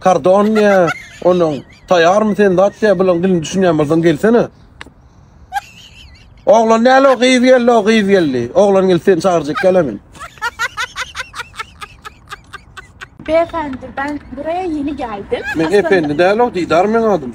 Kardonniýa onuň taýarmy sen zatya bilen dilini düşünýän bolsaň gelsene. Oglan näle o gyz geldi o gyz geldi. Oglan geldi seni çagyrjak gel men. Beyefendi ben buraya yeni geldim. Men Aslında... efendi değilim, didar men adım.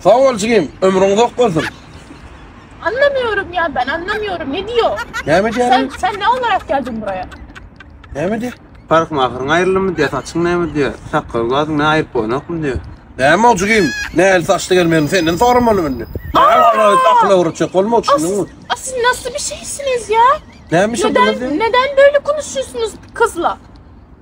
Sag bol jigim, ömrüň uzak bolsun. Anlamıyorum ya ben anlamıyorum ne diyor? Näme Sen, diýýärin? sen ne olarak geldin buraya? Näme diýýär? Park mahyryň aýrylmy diýýär, saçyň näme diýýär, sakgal gazyň ne aýryp bolanokmy diýýär. Näme o jigim? Näli saçly gelmegini senden soramalym indi. Näme akla urutjak bolma As, düşündüňmi? as siz nasıl bir şeysiniz ya? Näme işe Neden, dönüp neden böyle konuşuyorsunuz kızla?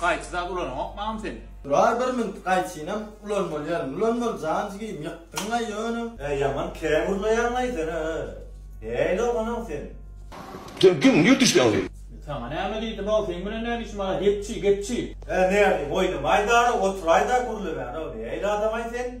Gaýçy zat ulananokmy agam sen. Durar bir minut gaýçynam ulanmaly ýalyň ulanmaly jan jigim ýykdyňa ýöne. He ýaman kän gurnaýaňaý sen a nähili oglanam sen. Sen kim niye düşdüň sen. Saňa näme diýdim how seň bilen näme işim bar gepçi gepçi. He nädiyim oýnamaýdara oturaýda gürlemäne nähili adamaý sen.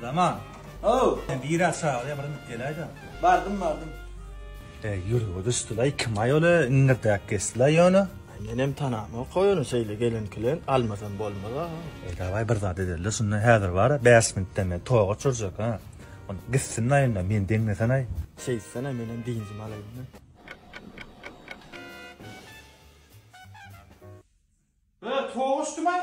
Zaman. Ow. Sen biraz çagala bir inip geläýdä. Bardym, bardym. E, ýüregi düşdülaý, kim-aý ol-a, iňňirtäp geçdilaý ýöne. Menem tanamok ony, şeýle gelen-kilen almasam bolmaz-a. E, dawaý bir zat edeli-de şunda, häzir bar-a, bäş minutdan men toga çürjek, ha. Onda gitsin-laý onda, meni deňlesenaý. Şeýtsene, menem dynjymy alaýyn-da. Toga uçdum-aý.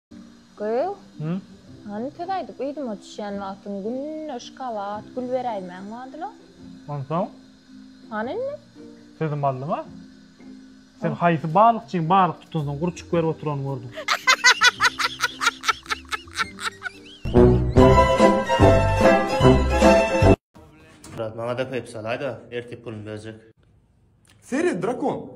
Gyz, hany söz aýdyp yzyma düşýän wagtyň gündeş gabat gül beräýmäň badyla. Onsoň? Hany indi? Sözüm aldyň-a. Sen haýsy balykçyň balyk tutansoň gurçuk berip oturanyny gördüň? Brat, maňa-da peýp salaý-da, ertir puluny berjek. Seri, drakon!